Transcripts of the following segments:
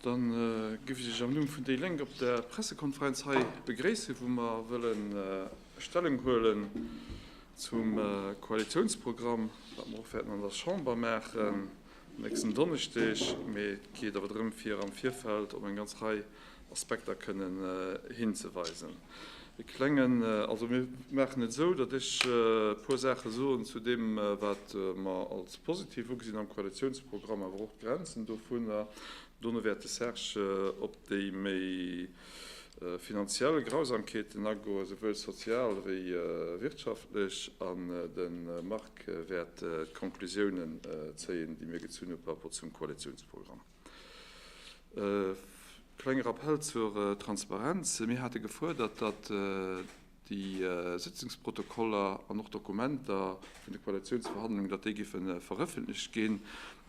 Dann géif ech Iech am Numm vun déi Lénk op der Pressekonferenz hei begréissen, wou mer wëlle Stellung huelen zum Koalitionsprogramm, wat mer och wäerten an der Chamber maachen nächsten Donneschdeg. Mee et geet awer drëm, fir am Virfeld op eng ganz Rei Aspekter kënnen hinzeweisen. E klengen, also mir maachen et esou, datt ech e puer Saache soen zu deem, wat mer als positiv ugesinn am Koalitionsprogramm, awer och d'Grenzen dovunner. Dono wäert de Serge op déi méi finanziell Grausamkeeten agoen, souwuel sozial wéi wirtschaftlech, an de Marc wäert d'Konklusiounen zéien, déi mir gezunn hu par rapport zum Koalitionsprogramm. E klenge Rappell zur Transparenz, Mir hate gefuerdert, datt déi Sëtzungsprotokoller an och d'Dokumenter vun de Koalitiounsverhandlungen, datt déi géife verëffentlecht ginn.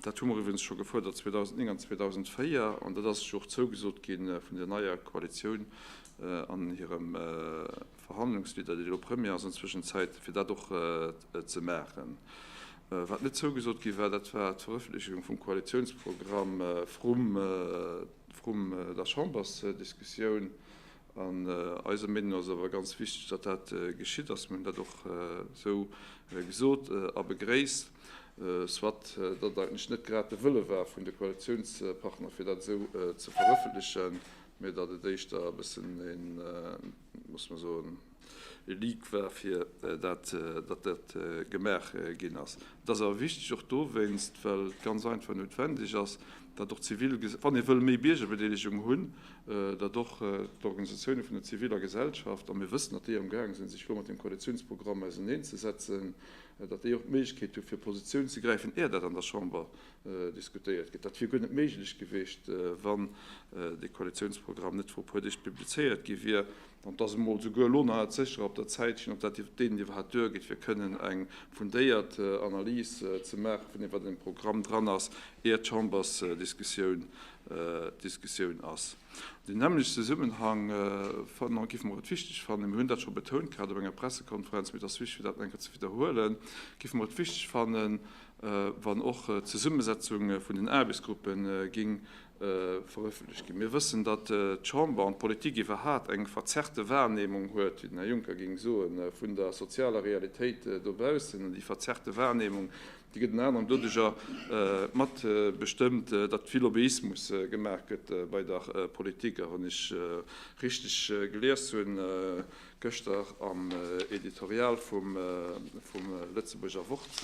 Dat hu mer iwwerens scho gefuerdert 2009 an 2004, an dat ass jo och zougesot gi vun der neier Koalitioun an hirem Verhandlungsleader, déi elo Premier ass an Zwëschenzäit, fir dat och ze maachen. Wat net zougesot gi war, dat war d'Verëffentlechegung vum Koalitiounsprogramm vrum der Chambersdiskussioun. An eiser Meenung ass et awer ganz wichteg, datt dat geschitt ass. Mir hunn dat och esou gesot a begréisst, soit datt et eigentlech net grad de Wëlle war vun de Koalitiounspartner, fir dat esou ze verëffentlechen, mee datt et éischter e bëssen een muss mer soen, e Leak war, fir dat, datt dat gemaach ginn ass. Et ass awer wichteg och dowéinst, well et ganz einfach noutwendeg ass, datt och d'zivil, wann ee wëll méi Biergerbedeelegung hunn, datt och d'Organisatioune vun der ziviler Gesellschaft, a mir wëssen, datt déi am gaange sinn, sech elo mat deem Koalitiounsprogramm auseneen ze setzen, datt déi och d'Méiglechkeet hu fir Positioun ze gräifen, är dat an der Chamber diskutéiert gëtt. Dat wier guer net méiglech gewiescht, wann dee Koalitiounsprogramm net vru puer Deeg publizéiert gi wier. An et ass emol souguer elo nach net sécher, ob der Zäit ginn, ob dat deenen iwwerhaapt duergeet, fir kënnen eng fundéiert Analys ze maache vun deem, wat an deem Programm dran ass, ier d'Chambersdiskussioun ass. An deem nämmlechte Zesummenhang giff mer et wichteg fannen, mir hunn dat scho betount gehat op enger Pressekonferenz, mee et ass wichteg, fir dat nach eng Kéier ze widderhuelen, giff mer et wichteg fannen, wann och d'Zesummesetzung vun den Aarbechtsgruppe géing verëffentlecht ginn. Mir wëssen, datt d'Chamber an d'Politik iwwerhaapt eng verzerrte Wahrnehmung huet, wéi den Här Juncker géing soen, vun der sozialer Realitéit dobaussen. An déi verzerrte Wahrnehmung, déi gëtt ënner anerem doduerjer mat bestëmmt, datt vill Lobbyismus gemaach gëtt bei der Politik. A wann ech richteg gelies hunn gëschter am Editorial vum Lëtzebuurger Wort,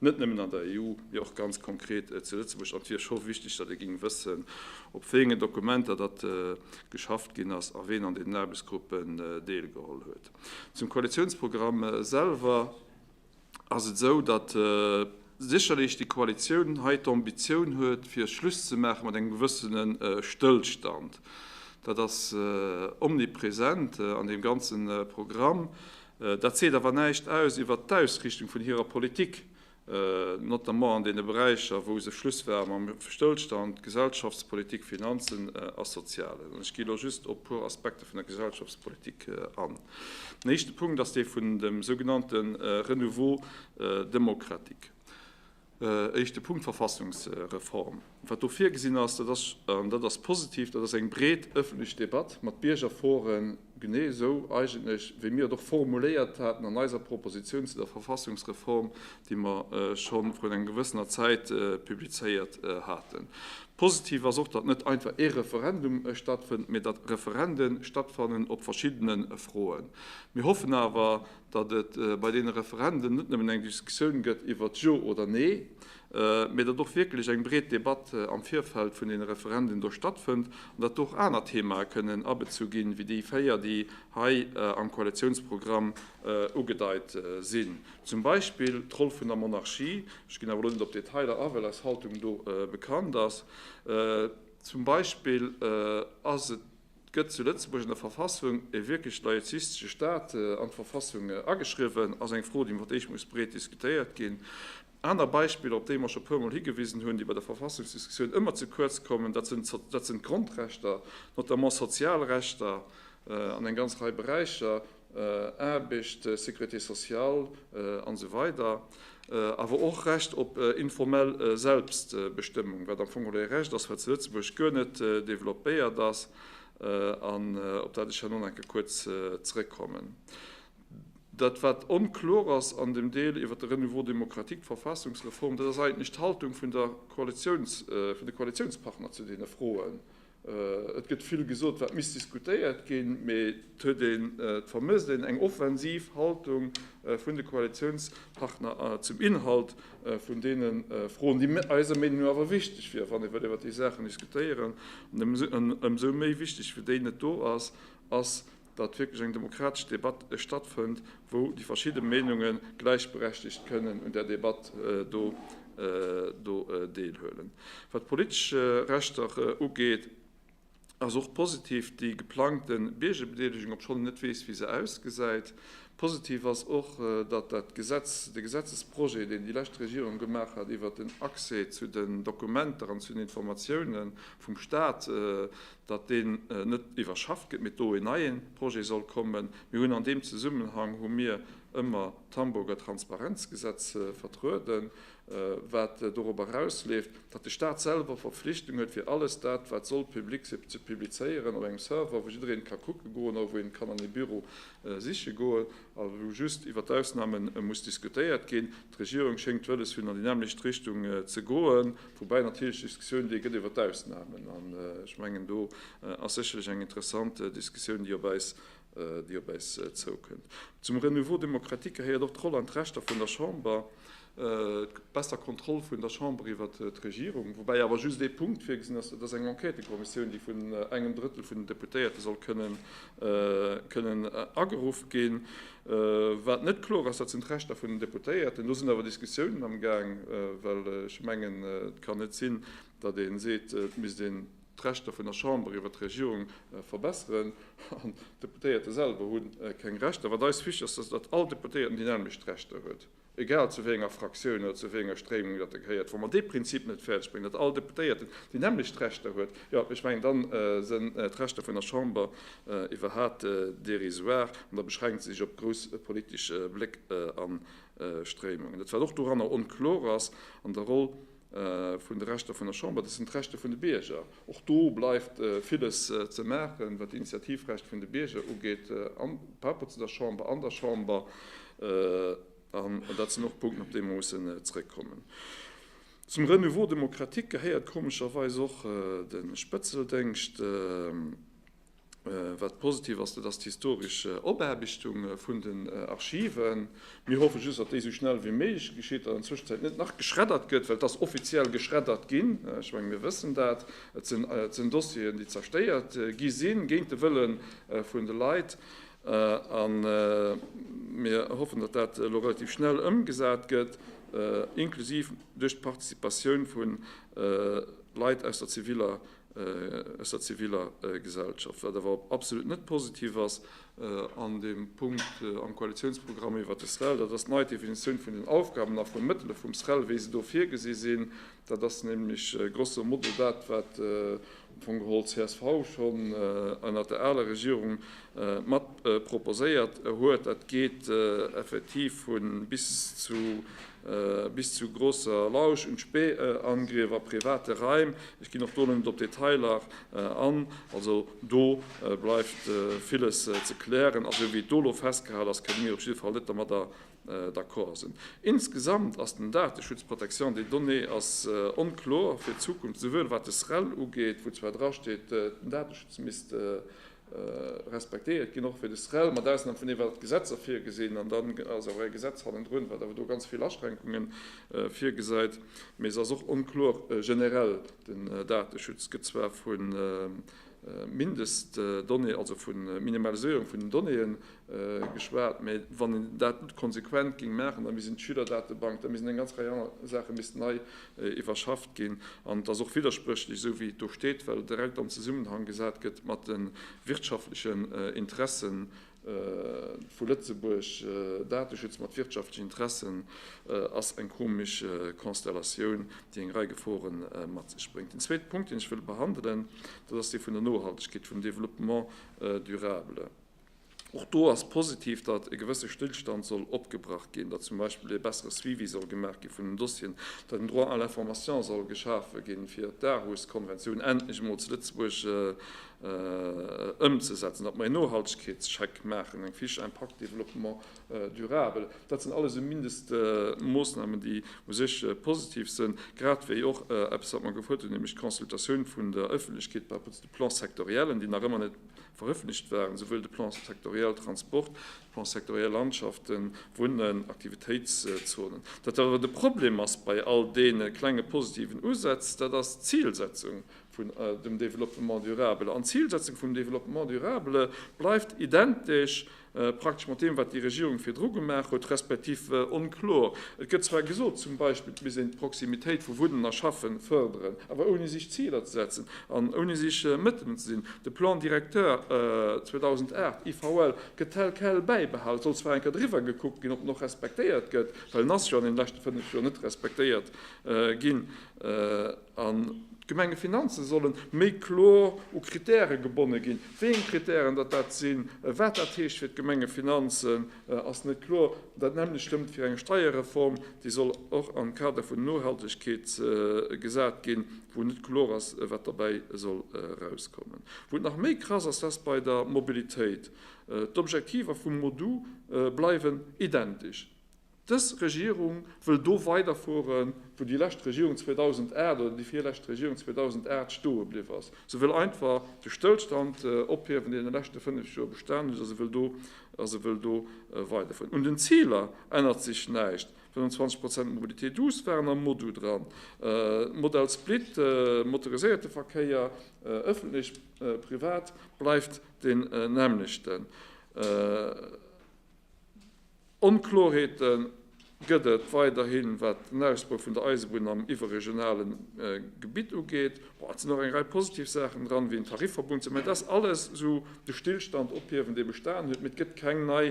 Net nëmmen an der EU, mee och ganz konkret zu Lëtzebuerg. An et wier scho wichteg, datt ee géing wëssen, op wéi engen Dokumenter datt geschafft ginn ass a ween an deenen Aarbechtsgruppen deelgeholl huet. Zum Koalitiounsprogramm selwer ass et esou, datt sécherlech déi Koalitioun hei d'Ambitioun huet, fir Schluss ze maache mat engem gewëssene Stëllstand. Dat ass omnipresent an deem ganze Programm. Dat seet awer näischt aus iwwert d'Ausriichtung vun hirer Politik, notamment an deene Beräicher, wou se Schluss war mam Stëllstand, Gesellschaftspolitik, Finanzen a Soziales. An ech gi elo just op e puer Aspekte vun der Gesellschaftspolitik an. Den éischte Punkt ass dee vun dem sougenannte Renouveau démocratique. Éischte Punkt, d'Verfassungsreform. Wat do virgesinn ass, dat ass, an dat ass positiv, dat ass eng breet ëffentlech Debatt mat Biergerforen, genee esou eigentlech, wéi mir et och formuléiert haten an eiser Proposition zu der Verfassungsreform, déi mer scho vrun enger gewëssener Zäit publizéiert haten. Positiv ass och, datt net einfach ee Referendum stattfënnt, mee datt Referende stattfannen op verschiddene Froen. Mir hoffen awer, datt et bei deene Referenden net nëmmen eng Diskussioun gëtt iwwert Jo oder Nee, mee datt och wierklech eng breet Debatt am Virfeld vun deene Referenden do stattfënnt an datt do och aner Themae kënnen abezu ginn, ewéi déi véier, déi hei am Koalitiounsprogramm ugedeit sinn, zum Beispill d'Roll vun der Monarchie, ech ginn awer elo net op d'Detailer a, well eis Haltung do bekannt ass, zum Beispill ass et. Gëtt zu Lëtzebuerg an der Verfassung e wierklech laizistesche Staat an d'Verfassung ageschriwwen? ass eng Fro, déi iwwert déi ech muss breet diskutéiert ginn. Aner Beispiller, op déi mer scho e puermol higewisen hunn, déi bei der Verfassungsdiskussioun ëmmer ze kuerz kommen, dat sinn d'Grondrechter, notamment Sozialrechter an eng ganz Rei Beräicher. Aarbecht, Sécurité sociale an esou weider Awer och Recht op informell Selbstbestëmmung, wat am Fong geholl e Recht ass, wat zu Lëtzebuerg guer net developpéiert ass an op dat ech herno nach eng Kéier kuerz zrëckkommen. Dat, wat onkloer ass an dem Deel iwwert de Renouveau démocratique, d'Verfassungsreform, dat ass eigentlech d'Haltung vun de Koalitiounspartner zu deene Froen. Et gëtt vill gesot, wat misst diskutéiert ginn, mee et huet een, et vermësst een eng offensiv Haltung vun de Koalitiounspartner zum Inhalt vun deene Froen, déi eiser Meenung no awer wichteg wieren, wann ee wëllt iwwert déi Saachen diskutéieren. Ëmsou méi wichteg wéi déi net do ass, ass, datt wierklech eng demokratesch Debatt stattfënnt, wou déi verschidde Meenunge gläichberechtigt kënnen un där Debatt do deelhuelen. Wat d'politesch Rechter ugeet, ass och positiv déi geplangte Biergerbedeelegung, obschonn een net weess, wéi se ausgesäit. Positiv ass och, datt dat Gesetz, de Gesetzesprojet, deen déi lescht Regierung gemaach hat iwwert den Accès zu den Dokumenter an zu den Informatiounen vum Stat, datt deen net iwwerschafft gëtt, mee do en neie Projet soll kommen. Mir hunn an deem Zesummenhang hu mir ëmmer d'Hamburger Transparenzgesetz vertrueden, wat dorop erausleeft, datt de Stat selwer d'Verpflichtung huet, fir alles dat, wat soll public sinn, ze publizéieren op engem Server, wou jiddereen ka kucke goen oder wou een kann an ee Büro siche goen a wou just iwwert d'Ausname muss diskutéiert ginn. D'Regierung schéngt wëlles hunn an déi nämmlecht Richtung ze goen, woubäi natierlech déi Diskussioun déi gëtt iwwert d'Ausnahmen. An ech mengen do ass sécherlech eng interessant Diskussioun déi op äis zoukënnt. Zum Renouveau démocratique gehéiert och d'Roll an d'Rechter vun der Chamber, d'besser Kontroll vun der Chamber iwwer d'Regierung, woubäi awer just ee Punkt virgesinn ass, dat ass eng Enquêtekommissioun déi vun engem Drëttel vun den Deputéierte soll kënnen kënnen ageruff ginn. Wat net kloer ass, dat sinn d'Rechter vun den Deputéierten. Do sinn awer Diskussiounen am Gaang, well ech mengen, et kann net sinn, datt ee seet, et misst een d'Rechter vun der Chamber iwwer d'Regierung verbesseren, an d'Deputéierte selwer hu keng Rechter. Wat eis wichteg ass, ass, datt all Deputéierten déi nämlecht Rechter huet. egal zu wéi enger Fraktioun oder zu wéi enger Stréimung datt e gehéiert, wa mer dee Prinzip net fäerdeg bréngen, datt all Deputéierten déi nämmlecht Rechter huet, jo, ech mengen, da sinn d'Rechter vun der Chamber iwwerhat dérisoire an da beschränkt se sech op grouss politesch Bléck a Stréimungen. Dat wat och doranner onkloer ass an der Roll, vun de Rechter vun der Chamber, dat sinn d'Rechte vun de Bierger. Och do bleift villes ze maachen, wat d'Initiativrecht vun de Bierger ugeet par rapport zu der Chamber, an der Chamber. An dat sinn och Punkten, op déi mer mussen zrëckkommen. Zum Renouveau démocratique gehéiert komescherweis och de Spëtzeldéngscht. Wat positiv ass, dat ass d'historesch Opaarbechtung vun den Archiven. Mir hoffe just, datt déi esou schnell wéi méiglech geschitt an an Zwëschenzäit net nach geschreddert gëtt, well et ass offiziell geschreddert ginn. Ech menge mir wëssen dat. Et sinn Dossieren, déi zerstéiert gi sinn, géint de Wëlle vun de Leit. A mir hoffen, datt dat elo relativ schnell ëmgesat gëtt, inklusiv duerch d'Participatioun vu Leit aus der ziviler aus der ziviller Gesellschaft, wat awer absolut net positiv ass an deem Punkt am Koalitionsprogramm iwwert de SREL, dat ass d'nei Definitioun vun den Aufgaben a vun Mëttele vum SREL, wéi se do virgesi sinn. Dat ass nämlech grosso modo dat, wat am Fong geholl csv schonn ënnert der aler Regierung mat proposéiert huet. Dat geet effektiv vu bis zu bis zu Grosser Lausch un d'Spähangrief a private Raim, ech ginn och do elo net op d'Detailer an, also do bleift villes ze klären. A sou wéi et do elo festgehal ass, kënne mir op jidde Fall net domadder d'accord sinn. Insgesamt ass den Dateschutz, Protection des données, ass onkloer fir d'Zukunft, souwuel wat de SREL ugeet, wou zwar drasteet, den Dateschutz misst respektéiert ginn, och fir de SREL, mat Ausnam vun deem, wat d'Gesetzer virgesinn, an dann ass awer e Gesetz hannendrun, wat awer do ganz vill Aschränkunge virgesäit, mee se ass och onkloer generell. Den Dateschutz gëtt zwar vu Mindestdonnéeën, also vu Minimaliséierung vun den Donnéeën geschwat, mee wann een dat konsequent géing maachen, da misst een d'Schülerdatebank, da misst een eng ganz Rei aner Saache misst nei iwwerschafft ginn an et ass och widderspréchlech, esou wéi et do steet, well et direkt an Zesummenhang gesat gëtt mat de wirtschaftlechen Interesse vu Lëtzebuerg. Dateschutz mat wirtschaftlechen Interessen ass eng komesch Konstellatioun, déi eng Rei Gefore mat sech bréngt. Den zweete Punkt, deen ech wëll behandelen, dat ass dee vun der Nohaltegkeet, vum Développement durable. Och do ass positiv, datt e gewësse Stillstand soll opgebrach ginn, datt zum Beispill ee bessere Suivi soll gemaach gi vun den Dossieren, datt en Droit à l'information soll geschafe ginn, fir d'Aarhus-Konventioun endlech emol zu Lëtzebuerg ëmzesetzen, datt mer een Nohaltegkeetscheck maachen, eng Fiche impact développement durable. Dat sinn alles esou Mindestmoosnamen, déi u sech positiv sinn, grad wéi och eppes, wat mer gefrot hunn, nämlech d'Consultatioun vun der Öffentlechkeet par rapport zu de Plan-sectoriellen, déi nach ëmmer net Verëffentlecht waren esouwuel de Plan sectoriel Transport, de Plan sectoriel Landschaften, Wunnen, Aktivitéitszonen. Dat wat awer de Problem ass bei all deene klenge positiven Usätz, dat ass d'Zilsetzung vun dem Développement durable. An d'Zilsetzung vum Développement durable bleift identesch praktesch mat deem, wat déi Regierung virdru gemaach huet, respektiv onkloer. Et gëtt zwar gesot, zum Beispill, et misst een d'Proximitéit vu Wunnen a Schaffe fërderen, awer ouni sech Ziler ze setzen an ouni sech Mëttelen ze sinn. De Plan directeur 2008, IVL, gëtt tel quel bäibehalen. Et soll zwar eng Kéier driwwer gekuckt ginn, ob en och respektéiert gëtt, well en ass jo an deene leschte fënnef Joer net respektéiert ginn. An d'Gemengefinanze solle méi kloer u Krittäre gebonne ginn. Wéi eng Krittären datt dat sinn, wat dat heescht fir d'Gemengefinanzen, ass net kloer. Dat nämmlecht stëmmt fir eng Steierreform, déi soll och am Kader vun Nohaltegkeet gesat ginn, wou net kloer ass, wat dobäi soll erauskommen. Wou et nach méi krass ass, dat ass bei der Mobilitéit. D'Objektiver vum MoDu bleiwen identesch. Dës Regierung wëll do weiderfuere wou déi lescht Regierung 2008 oder déi virlescht Regierung 2008 stoe bliww ass. Se wëll einfach de Stëllstand ophiewen, deen an de leschte fënnef Joer bestanen huet, a se wëll do, a se wëll do weiderfueren. Un den Ziler ännert sech näischt, 25 Prozent Mobilité douce waren am MoDu dran, Modal Split, motoriséierte Verkéier, ëffentlech, privat, bleift deen nämmlechten. Onkloerheete gëtt et weiderhi wat den Ausbau vun der Eisebunn am iwwerregionale Gebitt ugeet. Et sinn och eng Rei positiv Saachen dran, wéi en Tarifverbund ze. Mä et ass alles esou de Stillstand ophiewen, dee bestanen huet, mee et gëtt keng nei,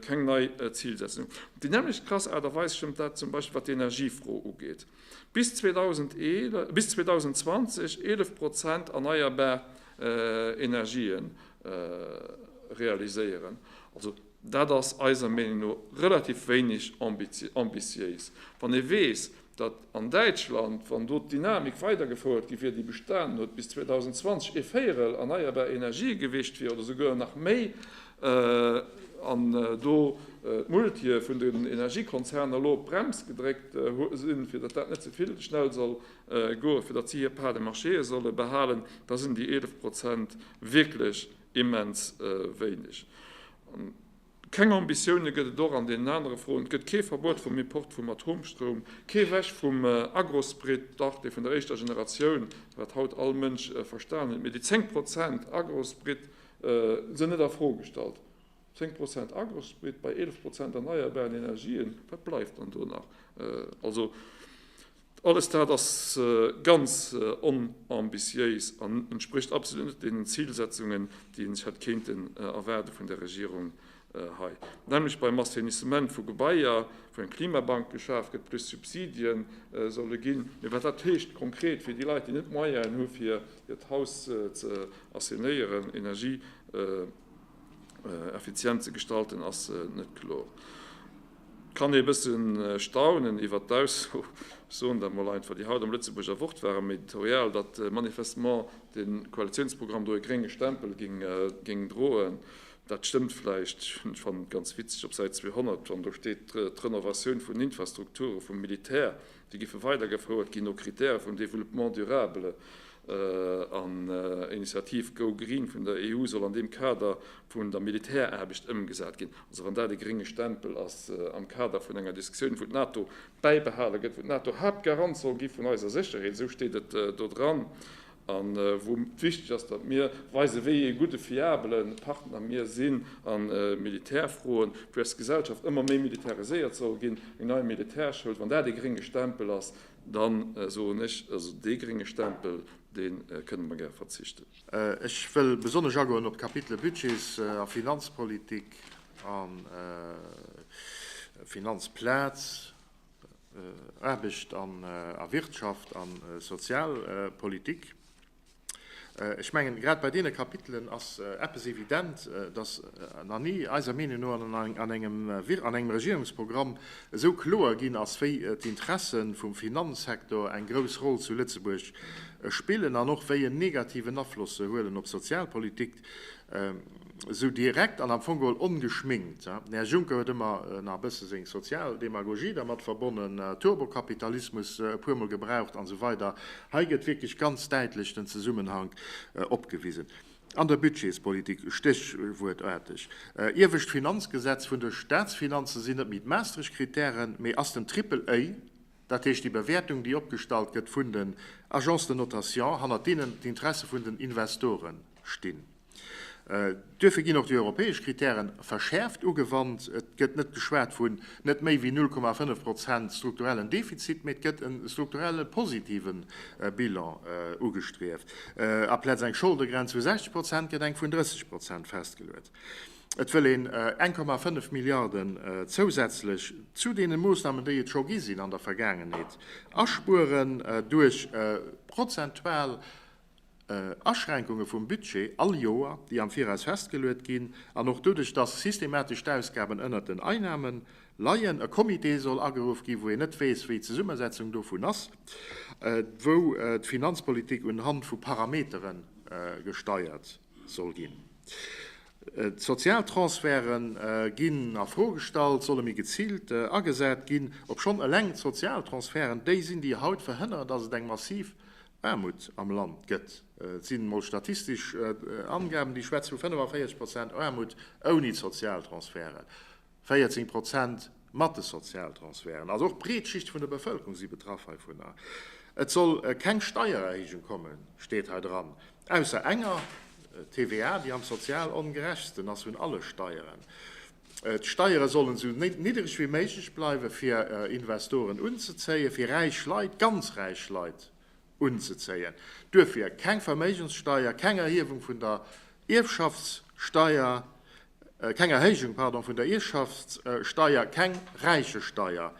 keng nei Zilsetzung. Op déi nämmlecht krass Aart a Weis stëmmt dat zum Beispill, wat d'Energiefro ugeet. Bis 2011, bis 2020 11 Prozent erneierbar Energien realiséieren. Also. Dat ass eiser Meenung no relativ wéineg ambitiéis, wann ee weess, datt an Däitschland, wann do d'Dynamik weidergefouert gi wier, déi bestanen huet, bis 2020 ee Véierel erneierbar Energië gewicht wier oder souguer nach méi an do d'Multië vun den Energiekonzerner elo op d'Brems gedréckt sinn, fir datt dat net ze vill schnell soll goen, fir datt si hir Parts de marché solle behalen. Da sinn déi 11 Prozent wierklech immens wéineg. An keng Ambitioune gëtt et och an deenen anere Froen. Et gëtt kee Verbuet vum Import vum Atomstroum, kee Weg vum Agrosprit, dach dee vun der éischter Generatioun, wat haut all Mënsch verstanen huet. Mee déi 10 Prozent Agrosprit sinn net a Fro gestallt. 10 Prozent Agrosprit bei 11 Prozent erneierbaren Energien, wat bleift dann do nach? Also Alles dat ass ganz onambitiéis an entsprécht absolut net deenen Zilsetzungen, déi ee sech hätt kéinten erwaarde vun der Regierung hei, nämlech beim Assainissement vu Gebaier, wou eng Klimabank geschaf gëtt, plus Subsidie solle ginn. Mee wat dat heescht konkret fir déi Leit, déi net d'Moyennen hu fir hiert Haus ze assainéieren, energieeffizient ze gestalten, ass net kloer. Kann ee bësse staunen iwwert d'Ausso, ech soen dat mol einfach, déi haut am Lëtzebuerger Wort war, am Editorial, datt manifestement de Koalitiounsprogramm do e grénge Stempel géing droen. Dat stëmmt vläicht, ech fannen et ganz witzeg, op Säit 200, wann do steet, d'Renovatioun vun Infrastrukture vum Militär Déi giffe weider gefouert ginn no Kritäre vum Développement durable an Initiative Go Green vun der EU soll an deem Kader vun der Militäraarbecht ëmgesat ginn. Also wann dat e grénge Stempel ass am Kader vun enger Diskussioun wou d'NATO bäibehale gëtt, wou d'NATO Haaptgarant soll gi vun eiser Sécherheet, esou steet et do dran, a wou et wichteg ass, datt mir weisen, wéi ee gudde fiabele Partner mir sinn a Militärfroen, wéi eis Gesellschaft ëmmer méi militariséiert soll ginn, eng nei Militärschoul, wann dat ee grénge Stempel ass, da soen ech, also dee grénge Stempel, dee kënne mer gäre verzichten. Ech wëll besonnesch agoen op d'Kapitele Budgets a Finanzpolitik a Finanzplaz. Aarbecht a Wirtschaft a Sozialpolitik. Ech mengen, grad bei deene Kapitelen ass eppes evident, dass nach ni, eiser Meenung no, an engem Regierungsprogramm esou kloer ginn ass, wéi d'Interesse vum Finanzsektor eng grouss Roll zu Lëtzebuerg spillen an och wéi en negativen Afloss se huelen op d'Sozialpolitik. Esou direkt an am Fong geholl ongeschminkt. Den Här Juncker huet ëmmer nach e bësse seng sozial Demagogie dermat verbonnen, Turbokapitalismus e puer Mol gebraucht an esou weider. Hei gëtt wierklech ganz däitlech den Zesummenhank opgewisen. An der Budgetspolitik, stéchwuertaarteg, iewescht Finanzgesetz vun de Staatsfinanze sinn net méi d'Maastricht-Kritären, mee ass den Triple-A, dat heescht déi Bewäertung, déi opgestallt gëtt vun den Agences de notation, hannert deenen d'Interesse vun den Investoren stinn. Duerfir ginn och déi europäesch Kritäre verschäerft ugewannt. Et gëtt net geschwat vun net méi wéi 0,5 Prozent strukturellen Defizit, mee et gëtt e strukturelle positive Bilan ugestrieft. Aplaz eng Scholdegrenz vu 60 Prozent gëtt eng vun 30 Prozent festgeluet. Et wëll een 1,5 Milliarden zousätzlech zu deene Moossnamen, déi et scho gi sinn an der Vergaangenheet, aspueren duerch prozentual Aschränkunge vum Budget all Joer, déi am Viraus festgeluet ginn, an och doduerch, dass systematesch d'Ausgaben ënnert den Einnahmen leien, e Comité soll ageruff ginn, wou een net weess, wéi d'Zesummesetzung dovun ass, wou d'Finanzpolitik un Hand vu Parametere gesteiert soll ginn. D'Sozialtransferte ginn a Fro gestallt, solle méi geziilt agesat ginn, obschonn eleng d'Sozialtransferte déi sinn, déi haut verhënneren, dass et eng massiv Aarmut am Land gëtt. Et sinn emol statistesch Angaben, déi schwätze vu 45 Prozent Aarmut ouni d'Sozialtransferten, 14 Prozent mat de Sozialtransferten. Also och breet Schichte vun der Bevëlkerung si betraff heivunner. Et soll keng Steiererhéijung kommen, steet hei dran, ausser enger, TVA, déi am sozial ongerechtsten ass vun alle Steieren. D'Steiere sollen esou niddereg wéi méiglech bleiwen, fir Investoren unzezéien, fir räich Leit, ganz räich Leit unzezéien. Duerfir keng Verméigenssteier, keng Erhiewung vun der Ierfschaftssteier, keng Erhéijung, pardon, vun der Ierfschaftssteier, keng Räichesteier.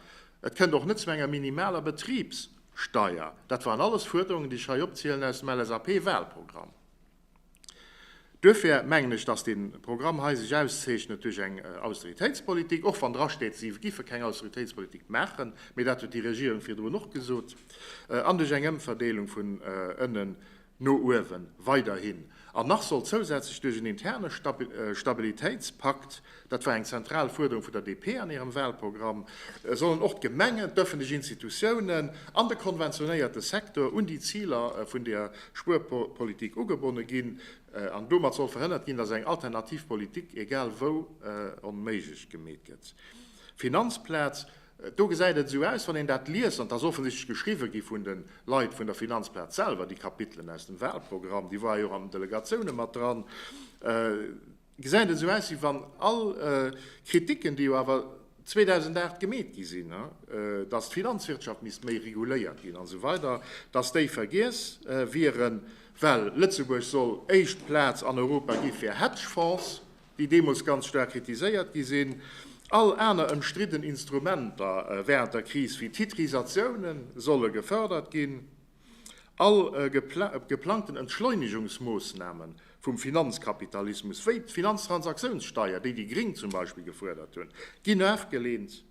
Et kënnt och net zu enger minimaler Betribssteier. Dat waren alles Fuerderungen, déi ech hei opzielen, aus dem LSAP-Wahlprogramm. Duerfir mengen ech, dass dee Programm hei sech auszeechnet duerch eng Austeritéitspolitik, och wann drasteet, si géife keng Austeritéitspolitik maachen, mee dat huet déi Regierung virdrun och gesot, an duerch eng Ëmverdeelung vun ënnen no uewe weiderhin an nach soll zousätzlech duerch en interne Stabilitéitspakt dat war eng zentral Fuerderung vun der DP an hirem Wahlprogramm, sollen och d'Gemengen, d'öffentlech Institutiounen an de konventionéierte Secteur un déi Ziler vun der Spuerpolitik ugebonne ginn an domat soll verhënnert ginn, dass eng alternativ Politik egal wou onméiglech gemeet gëtt. Finanzplaz, do gesäit et esou aus, wann een dat liest, an et ass offensichtlech geschriwwe gi vun de Leit vun der Finanzplaz selwer, déi Kapitelen aus dem Wahlprogramm, déi war jo och an den Delegatioune mat dran, Gesäit esou aus wéi wann all Kritiken, déi jo awer 2008 gemeet gi sinn, datt d'Finanzwirtschaft misst méi reguléiert ginn an esou weider, datt déi vergiess wieren, well Lëtzebuerg soll éischt Plaz an Europa gi fir Hedgefonds, déi deemools ganz staark kritiséiert gi sinn. All aner ëmstridden Instrumenter wärend der Kris wéi Titrisatiounen solle gefërdert ginn. All geplangten Entschleunigungsmoosname vum Finanzkapitalismus, wéi d'Finanztransaktiounssteier, déi déi Gring zum Beispill gefuerdert hunn, ginn afgeleent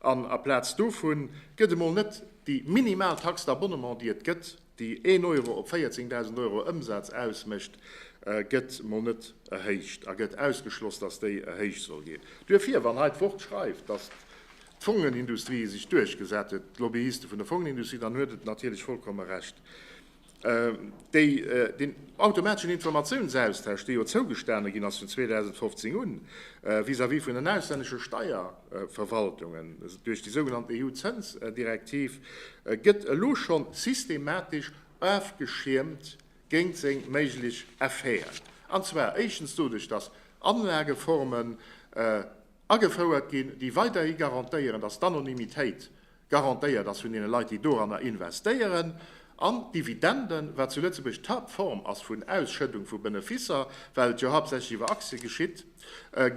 an aplaz dovu gëtt emol net déi minimal Taxe d'abonnement, déi et gëtt, déi een Euro op 14.000 Euro Ëmsaz ausmécht, gëtt emol net erhéicht a gëtt ausgeschloss, dass déi erhéicht soll ginn. Duerfir, wann hei d'Wort schreift, dass. d'Fongenindustrie sech duerchgesat huet, d'Lobbyiste vun der Fongenindustrie, dann huet et natierlech vollkomme Recht. Déi, deen automateschen Informatiounsaustausch, dee jo zougestane ginn ass vun 2015 un, vis-à-vis vun den auslännesche Steierverwaltungen duerch déi sougenannt EU-Zënsdirektiv, gëtt elo schonn systematesch ofgeschiermt géint seng méiglech Effeten. An zwar éischtens doduerch, dass Anlageformen, Agefouert ginn, déi weiderhi garantéieren, datt d'Anonymitéit garantéiert ass vun deene Leit, déi doranner investéieren. An d'Dividenden, wat zu Lëtzebuerg d'Haaptform ass vun Ausschëddung vu Benefisser, well et jo haaptsächlech iwwer Aktie geschitt,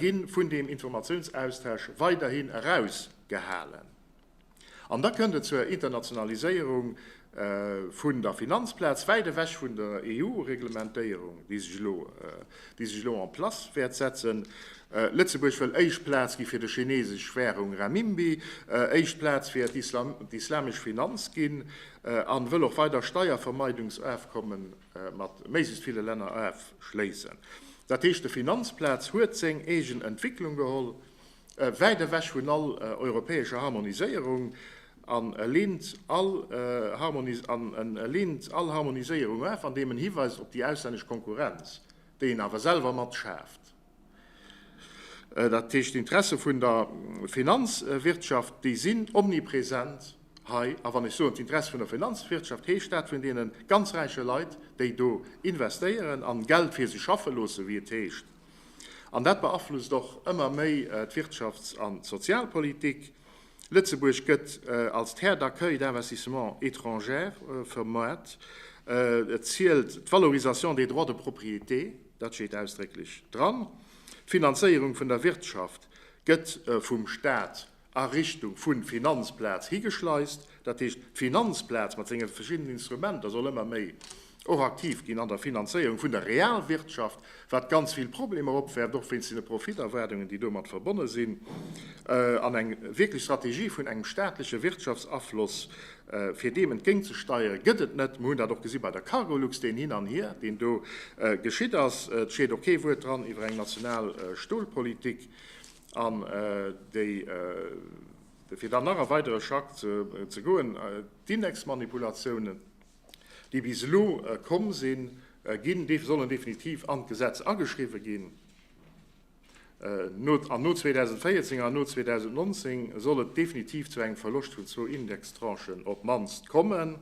gi vun deem Informatiounsaustausch weiderhin erausgehalen. An da kënnt et zur Internationaliséierung vun der Finanzplaz, wäit ewech vun der EU-Reglementéierung, déi sech elo, déi sech elo en place wäert setzen. Lëtzebuerg wëll éischt Plaz gi fir de chinesesch Währung Renminbi, éischt Plaz fir d'islamesch Finanz ginn a wëll och weider Steiervermeidungsafkommen mat méiglechst ville Länner afschléissen. Dat heescht, de Finanzplaz huet seng eegen Entwicklung geholl. wäit ewech vun all europäescher Harmoniséierung an e leent all Harmoniséierung af, andeem en hiweist op déi auslännesch Konkurrenz, déi en awer selwer mat schaaft. Dat heescht, d'Interesse vun der Finanzwirtschaft, déi sinn omnipresent hei. A wann ech soen d'Interesse vun der Finanzwirtschaft, heescht dat vun deene ganz räiche Leit, déi do investéieren a Geld fir sech schaffe loossen, wéi et heescht. An dat beaflusst och ëmmer méi d'Wirtschafts an d'Sozialpolitik. Lëtzebuerg gëtt als Terre d'accueil d'investissement étrangère vermuart. Et zielt d'Valorisation des droits de propriété, dat steet ausdrécklech dran. D'Finanzéierung vun der Wirtschaft gëtt vum Staat a Richtung vu Finanzplaz higeschleist, dat heescht, d'Finanzplaz mat senge verschiddenen Instrumenter soll ëmmer méi och aktiv ginn an der Finanzéierung vun der Realwirtschaft, wat ganz vill Problemer opwerft, och wéinst deene Profiterwaardungen, déi domat verbonne sinn, an eng wierklech Strategie vun engem staatleche Wirtschaftsafloss, fir deem entgéintzesteieren, gëtt et net. Mir hunn dat och gesi bei der Cargolux, deen Hin an Hier, deen do geschitt ass. Et steet och kee Wuert dran iwwer eng national Stolpolitik. An fir dann nach e weidere Schrack ze goen, D'Indexmanipulatiounen, déi bis elo komm sinn, sollen definitiv an d'Gesetz ageschriwwen ginn. An no 2014 an no 2019 soll et definitiv zu engem Verloscht vun zwou Indextranchen op d'mannst kommen.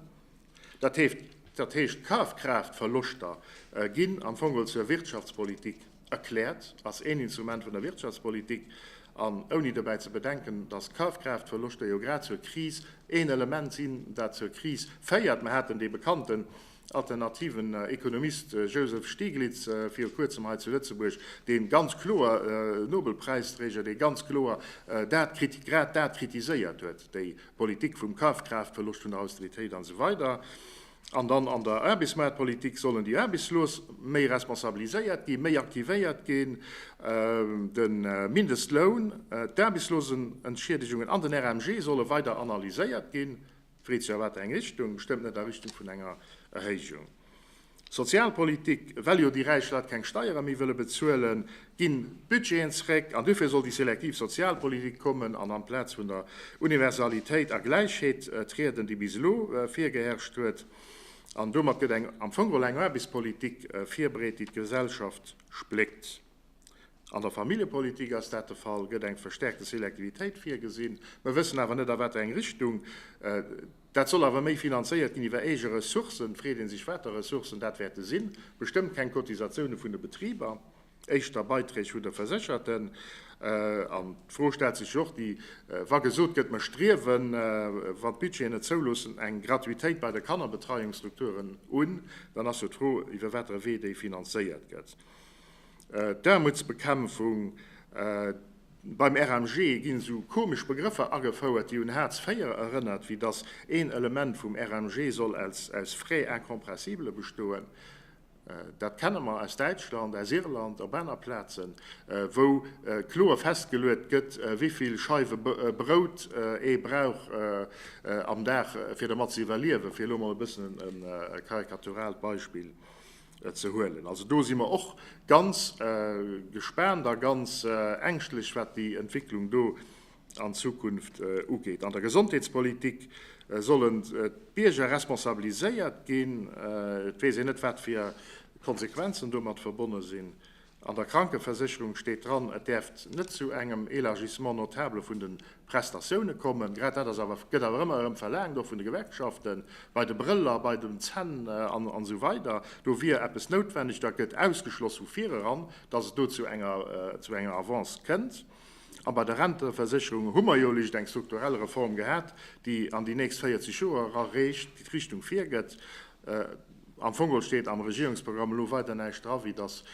Dat heescht, d'Kafkraaftverloschter ginn am Fong zur Wirtschaftspolitik erkläert, ass een Instrument vun der Wirtschaftspolitik, an ouni dobäi ze bedenken, datt d'Kafkraaftverloschter jo grad zur Kris een Element sinn, dat zur Kris féiert. Mer haten dee bekannten alternativen Ekonomist Joseph Stiglitz viru Kuerzem hei zu Lëtzebuerg, dee ganz kloer, Nobelpräisträger, dee ganz kloer grad dat kritiséiert huet, déi Politik vum Kafkraaftverloscht, vun der Austeritéit an esou weider An dann an der Aarbechtsmaartpolitik sollen déi Aarbechtslos méi responsabiliséiert ginn, méi aktivéiert ginn. De Mindestloun, d'Aarbechtslosenentschiedegungen an den RMG solle weider analyséiert ginn. D'Freed, jo, a wat eng Richtung? Bestëmmt net a Richtung vun enger Erhéijung. Sozialpolitik, Well jo déi räich Leit keng Steiere méi wëlle bezuelen, ginn d'Budgeten zréck. An duerfir soll déi selektiv Sozialpolitik kommen an amplaz vun der Universalitéit a Gläichheet trieden, déi bis elo virgeherrscht huet. An domat gëtt eng am Fong geholl eng Aarbechtspolitik virbereet, déi d'Gesellschaft spléckt. An der Familljepolitik ass dat de Fall, gëtt eng verstärkte Selektivitéit virgesinn. Mer wëssen awer net a wat eng Richtung. Dat soll awer méi finanzéiert ginn iwwer eege Ressourcen. Freet ee sech water Ressourcen dat wäerte sinn. Bestëmmt keng Cotisatioune vun de Betriber, éischter Beiträg vun de Versécherten. An d'Fro stellt sech jo och déi, wa gesot gëtt, mer striewen, wann d'Budgeten et zouloossen, eng Gratuitéit bei de Kannerbetreiungsstrukturen un, dann ass jo d'Fro iwwer water e Wee déi finanzéiert gëtt. D'Aarmutsbekämpfung, Beim RMG ginn esou komesch Begrëffer agefouert, déi un Hartz 4 erënnert, wéi datt een Element vum RMG soll aus Frais incompressibles bestoen. Dat kenne mer aus Däitschland, aus Irland, op aner Plazen, wou kloer festgeluet gëtt, wéi vill Scheiwe Brout ee brauch am Dag, fir dermat ze iwwerliewen, fir elo emol e bëssen e karikaturaalt Beispill ze huelen. Also do si mer och ganz gespaant a ganz ängschtlech, wat déi Entwicklung do an Zukunft ugeet. An der Gesondheetspolitik sollen d'Bierger responsabiliséiert ginn. Et weess een net, wat fir Konsequenzen domat verbonne sinn. An der Krankeversécherung steet dran, et däerft net zu engem Élargissement notable vun de Prestatioune kommen. Grad dat ass awer, gëtt awer ëmmer erëm verlaangt, och vun de Gewerkschaften, bei de Brëller, bei den Zänn an esou weider. Do wier eppes noutwenneg. Dat gëtt ausgeschloss vu vireran, datt et do zu enger Avance kënnt. A bei der Renteversécherung hu mer jo lech eng strukturell Reform gehat, déi an déi nächst 40 Joer era reecht d'Richtung virgëtt. Am Fongol steet am Regierungsprogramm elo weider näischt dra wéi datt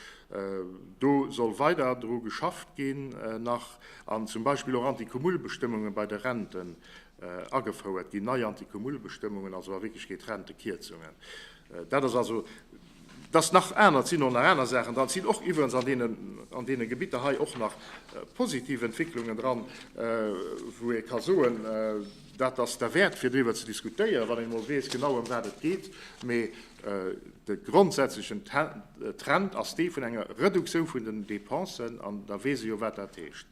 do soll weider dru geschafft ginn nach an zum Beispill och Anti-Cumul-Bestëmmunge bei de Renten agefouert ginn, nei Anti-Cumul-Bestëmmungen, also a Wierklechkeet Rentekierzungen. Dat ass also datt nach aner, et sinn och nach aner Saachen dran, et sinn och iwwerens an deenen an deene Gebitter hei och nach positiv Entwécklungen dran, wou ee ka soen, Dat ass derwäert, fir driwwer ze diskutéieren, wann een emol weess genau ëm wat et geet. Mee de grondsätzlechen Trend ass dee vun enger Reduktioun vun den Dépensen, an da weess ee jo wat dat heescht.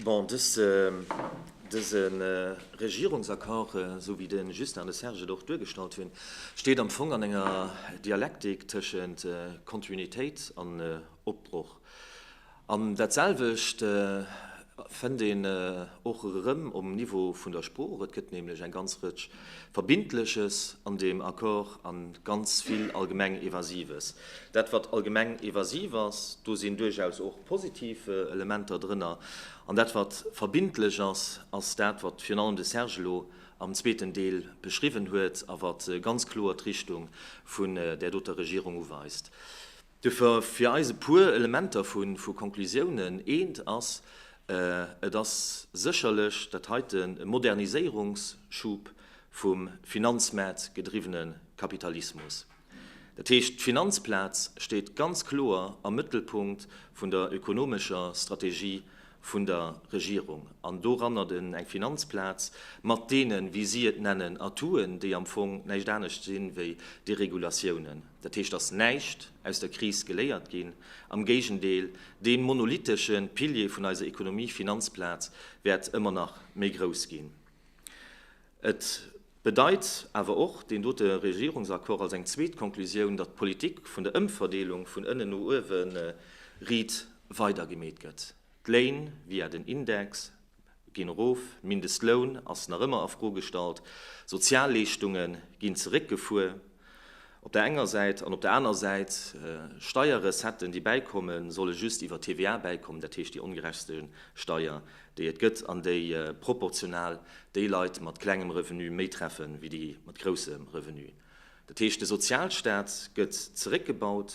Bon, dëse Regierungsaccord, esou wéi de Justin an de Serge et och duergestallt hunn, steet am Fong an enger Dialektik tëschent Kontinuitéit an Opbroch. An dat selwecht fënnt een och erëm um Niveau vun der Sprooch. Et gëtt nämlech eng ganz Rëtsch Verbindleches an deem Accord a ganz vill allgemeng Evasives. Dat wat allgemeng evasiv ass, do sinn duerchaus och positiv Elementer drënner. An dat wat verbindlech ass, ass dat wat virun allem de Serge elo am zweeten Deel beschriwwen huet a wat ganz kloer d'Richtung vun där doter Regierung uweist. Duerfir fir eis e puer Elementer vu Konklusiounen. Eent ass, Et ass sécherlech dat heite e Moderniséierungsschub vum finanzmäertgedriwwene Kapitalismus. Dat heescht, d'Finanzplaz steet ganz kloer am Mëttelpunkt vun der ökonomescher Strategie vun der Regierung. An doranner eng Finanzplaz mat deenen, wéi si et nennen, Atouten, déi am Fong näischt anescht sinn, wéi Deregulatiounen. Dat heescht, dass näischt aus der Kris geléiert ginn, am Géigendeel, dee monolithesche Pilier vun eiser Ekonomie, Finanzplaz, wäert ëmmer nach méi grouss ginn. Et bedeit awer och deen dote Regierungsaccord als eng zweet Konklusioun, datt d'Politik vun der Ëmverdeelung vun ënnen no uewe riit weidergemeet gëtt. D'Léin via den Index ginn erof, Mindestloun ass nach ëmmer a Fro gestallt, Sozialleeschtunge ginn zeréckgefuer op der enger Säit an op der aner Säit Steierrecetten, déi bäikommen, solle just iwwer d'TVA bäikommen, dat heescht déi ongerechtste Steier, déi et gëtt an déi proportional déi Leit mat klengem Revenu méi treffe wéi déi mat groussem Revenu. Dat heescht, de Sozialstaat gëtt zeréckgebaut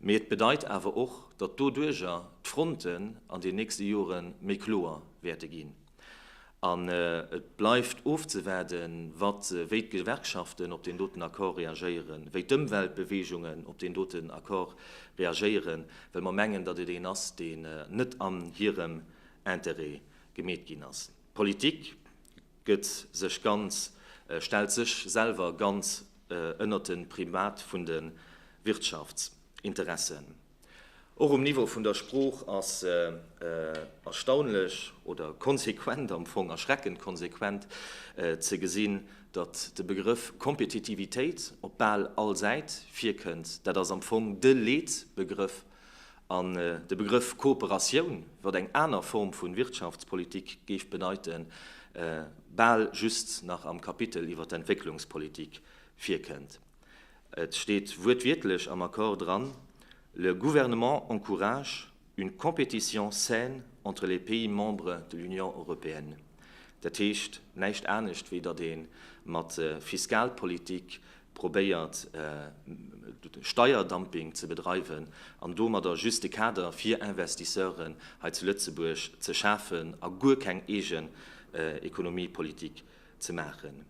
Mee et bedeit awer och, datt doduerger d'Fronten an den nächste Jore méi kloer wäerte ginn. An et bleift ofzewaarde wat, wéi d'Gewerkschaften op deen doten Accord reagéieren, wéi d'Ëmweltbeweegungen op deen doten Accord reagéieren, well mer mengen, datt et een ass, deen net an hirem Interêt gemeet ginn ass. D'Politik gëtt sech ganz, stellt sech selwer ganz ënnert de Primat vun de Wirtschaftsinteressen. Och um Niveau vun der Sprooch ass erstaunlech oder konsequent, am Fong erschreckend konsequent, ze gesinn, datt de Begrëff Kompetitivitéit op bal all Säit virkënnt. Dat ass am Fong de Leetbegrëff An de Begrëff Kooperatioun, wat eng aner Form vun Wirtschaftspolitik géif bedeiten, bal just nach am Kapitel iwwer d'Entwécklungspolitik virkënnt. Et steet wuertwiertlech am Accord dran, Le Gouvernement encourage une compétition saine entre les pays membres de l'Union européenne. Dat heescht näischt anescht, wéi datt ee mat Fiskalpolitik probéiert Steierdumping ze bedreiwen an domadder just de Kader fir Investisseuren hei zu Lëtzebuerg ze schafen a guer keng eegen Ekonomiepolitik ze maachen.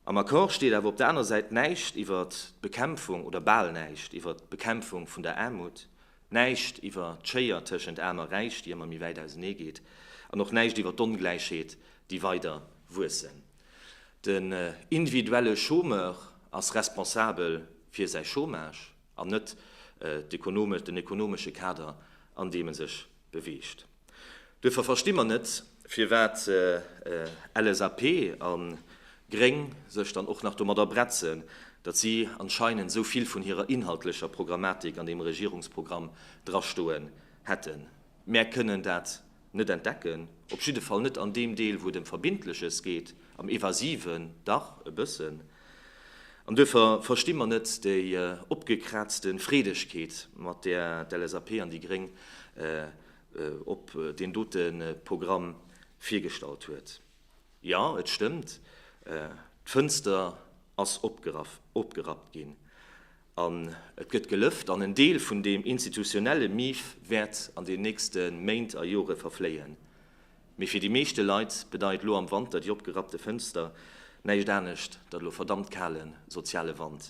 Am Accord steet awer op der aner Säit näischt iwwer d'Bekämpfung, oder bal näischt, iwwer d'Bekämpfung vun der Aarmut, näischt iwwer d'Schéier tëschent Aarm a Räich, déi ëmmer méi wäit ausenee geet, an och näischt iwwer d'Ongläichheet, déi weider wuessen. Den individuelle Chômeur ass responsabel fir säi Chômage an net den ekonomesche Kader, an deem e sech beweegt. Duerfir versti mer net, firwat LSAP a Gréng sech dann och nach domadder bretzen, datt si anscheinend esou vill vun hirer inhaltlecher Programmatik an deem Regierungsprogramm drastoen hätten. Mär kënnen dat Net entdecken, op jidde Fall net an deem Deel, wou et ëm Verbindleches geet, am Evasiven dach e bëssen. An duerfir versti mer net déi opgekraazte Freedegkeet, mat där d'LSAP an déi Gréng op deen dote Programm virgestallt huet. Jo, et stëmmt, d'Fënster ass opgerappt ginn. An et gëtt gelëft, an en Deel vun deem institutionelle Mief wäert an den nächste Méint a Jore verfléien. Mee fir déi meeschte Leit bedeit lo am Wanter déi opgerappte Fënster näischt anescht, datt elo verdammt kale soziale Wand,